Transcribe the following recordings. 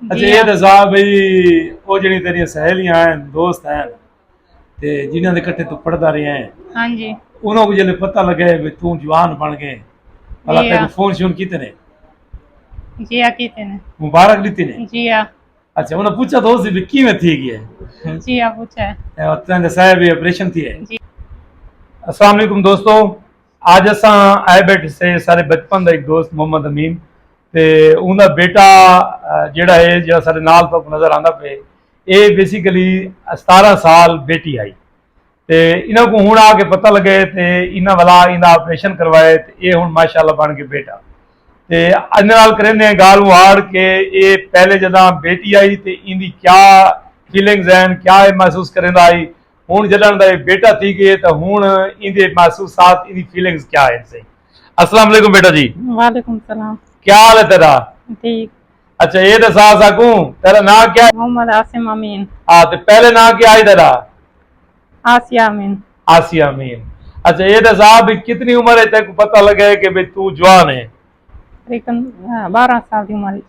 اچھا یہ دسا بھئی او جڑی تیری سہیلیاں ہیں دوست ہیں تے جنہاں دے کٹے تو پڑھدا رہیا ہیں ہاں جی انہاں کو جلے پتہ لگے بھئی تو جوان بن گئے اللہ جی تے ہاں۔ کو فون شون کیتے نے جی ہاں کیتے نے مبارک دیتی نے جی ہاں اچھا انہاں پوچھا تو سی بھی کیویں تھی گیا ہے جی ہاں پوچھا ہے اے تیں دسایا بھی آپریشن تھی ہے جی۔ السلام علیکم دوستو اج اساں آئے بیٹھے سے سارے بچپن دا ہک دوست محمد امین تے اوندا بیٹا جیڑا ہے جیڑا سارے نال تو نظر آندا پے اے بیسیکلی ستارہ سال بیٹی آئی تے انہاں کو ہن آ کے پتہ لگے تے انہاں والا ایندا آپریشن کروائے تے اے ہن ماشاءاللہ بن کے بیٹا تے اج نال کریندے ہیں گال ہاڑ کے اے پہلے جداں بیٹی آئی تے ایندی کیا فیلنگز ہیں کیا اے محسوس کریندا آئی ہن جݙݨ دا اے بیٹا تھی ڳئے تاں ہن ایندے محسوسات ایندی فیلنگز کیا ہن سئیں۔ السلام علیکم بیٹا جی۔ وعلیکم السلام۔ کیا حال ہے تیݙا؟ ٹھیک۔ اچھا اے ݙسا اساکوں تیݙا ناں کیا ہے؟ محمد عاصم امین۔ ہا تے پہلے ناں کیا ہئی تیݙا؟ آسیہ امین۔ آسیہ امین۔ اچھا اے ݙسا بھئی کتنی عمر اچ تیکوں پتہ لڳئے کہ بھئی توں جوان ہیں؟ تقریبا بارہاں سال دی عمر اچ۔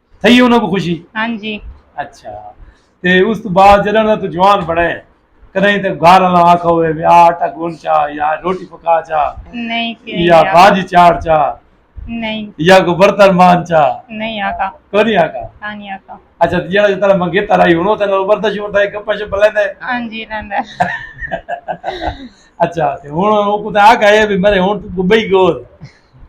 تھئی ہے انہاں کو خوشی ہاں جی اچھا تے اس تو بعد جڑا نہ تو جوان بڑے کدی تے گھر والا آکھا ہوئے وی آٹا گون چا یا روٹی پکا چا نہیں یا بھاجی چاڑ چا نہیں یا کو برتن مان چا نہیں آکھا کو نہیں آکھا ہاں نہیں آکھا اچھا جڑا جتا نہ مگے ترائی ہونو تے نو برتن شو تے کپا شو بلے دے ہاں جی رہندا اچھا تے ہن او کو تے آکھا ہے وی مرے ہن تو بئی گول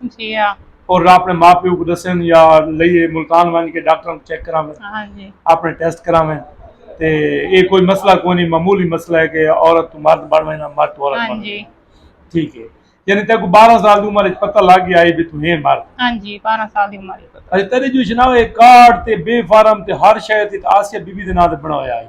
جی ہاں۔ اور اپنے ماں پیو کو دسن یا لئیے ملتان ونج کے ڈاکٹراں کو چیک کراویں۔ ہاں جی۔ اپنے ٹیسٹ کراویں تے اے کوئی مسئلہ کوئی نہیں معمولی مسئلہ ہے کہ عورت تو مرد بن وینا مرد تو عورت بن وینا۔ ہاں جی۔ ٹھیک ہے۔ یعنی تیکو بارہ سال دی عمر اچ پتہ لگ گیا ہے کہ تو ہیں مرد۔ ہاں جی بارہ سال دی عمر اچ پتہ۔ اچھا تیڈے جو شناوے کارڈ تے بے فارم تے ہر شے تے آسیہ بی بی دے ناں تے بناویا ہے۔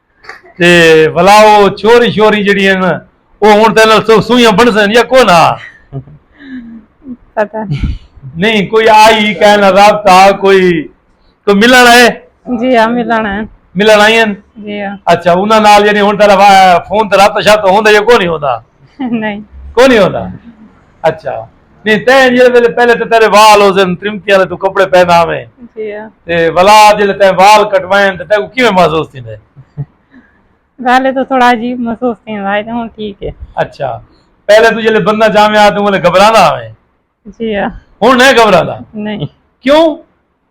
تے بھلا او چھوری شوری جیڑھی ہن او ہن تیرے نال سو سوئیاں بنسن یا کوئ نہ پتہ نہیں کوئی آئی کہے نہ رابطہ کوئی کوئی ملن آئے جی ہاں ملن آئے ملن آئی ہن جی ہاں اچھا انہاں نال یعنی ہن تیرا فون تے رابطہ شابطہ ہوندا یا کوئی نہیں ہوندا نہیں کوئی نہیں ہوندا اچھا نہیں تے جڑے ویلے پہلے تے تیرے وال ہو زن ترمتی والے تو کپڑے پہناویں جی ہاں۔ تے ولا جڑے تے وال کٹوائیں تے تے کو کیویں محسوس تھیندے پہلے تو تھوڑا عجیب محسوس تھیندا ہے تے ہن ٹھیک ہے اچھا پہلے تو جڑے بندہ جاویں آ تو ویلے گھبراندا آویں جی ہاں ہن نہیں گھبراندا نہیں کیوں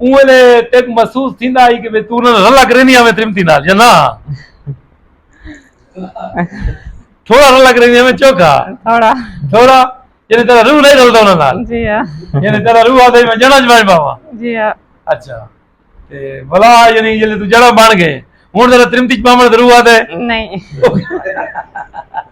اوں ویلے تیکوں محسوس تھیندا ہئی کہ توں انہاں نال رلا کرینی آویں تریمتی نال یا نہ تھوڑا رلا کرینی آویں چوکھا تھوڑا تھوڑا یعنی تیرا روح نہیں رلدا انہاں نال جی ہاں یعنی تیرا روح آدھے میں جڑا جمائے باوا جی ہاں اچھا تے بلا یعنی جلے تو جڑا بن گئے ہن تیرا تریمتی چ پاوݨ ضرور آدھے نہیں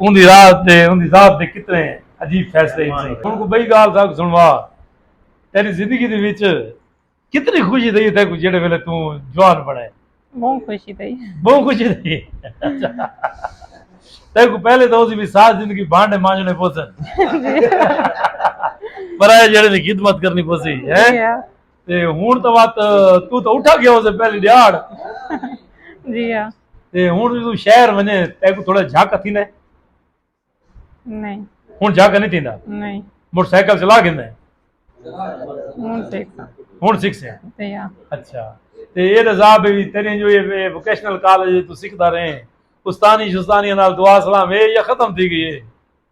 اوندی راز تے اوندی ذات دے کتنے عجیب فیصلے ہن سئیں۔ ہن کوئی بئی گالھ ساکوں سنڑوا۔ تیڈی زندگی دے وچ کتنی خوشی تھئی ہے تیکوں جیڈے ویلے توں جوان بنڑے؟ بہوں خوشی تھئی ہے۔ بہوں خوشی تھئی ہے۔ اچھا۔ تیکوں پہلے تاں اوندی وی ساری زندگی بھانڈے مانجنڑے پوسن۔ پرائے جیڈے دی خدمت کرنی پوسی۔ جی ہاں۔ تے ہن تاں وت توں تاں اٹھا گیا ہوسیں پہلی ڈیہاڑ۔ جی ہاں۔ تے ہن جو توں شہر ونجے تیکو تھوڑا جھک تھیندا ہے نہیں ہن جھک نہیں تھیندا نہیں موٹر سائیکل چلا گھندا ہے ہوں سیکھا ہن سکھ سے تے یا اچھا تے اے دا عذاب ہے وی تیرے جو یہ ووکیشنل کالج تو سکھدا رہے استانی شستانی نال دعا سلام اے یا ختم تھی گئی ہے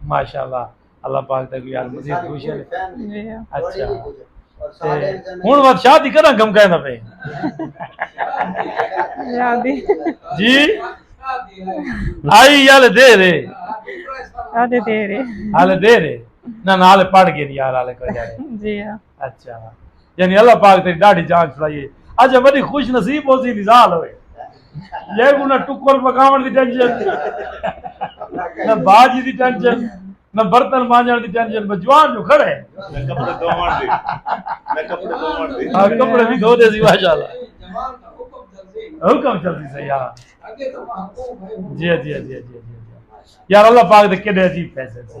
ماشاءاللہ اللہ پاک دے یار مزید خوش ہے اچھا ہن وقت شاہ دی کرا گم کہنا پے جی آئی یال دے رے آلے دے رے آلے دے رے نہ نال پڑھ گئے یار آلے کو جائے جی ہاں اچھا یعنی اللہ پاک تیری ڈاڑھی جان چھڑائیے اچھا بڑی خوش نصیب ہو سی نزال ہوئے یہ کو نہ ٹکر پکاون دی ٹینشن نہ باجی دی ٹینشن نہ برتن مانجن دی ٹینشن بس جوان جو کھڑے نہ کپڑے دھوون دی نہ کپڑے دھوون دی ہاں کپڑے بھی دھو دے سی ماشاءاللہ حکم چلدی سی یار جی جی جی جی یار اللہ پاک دے کیڑے عجیب فیصلے سی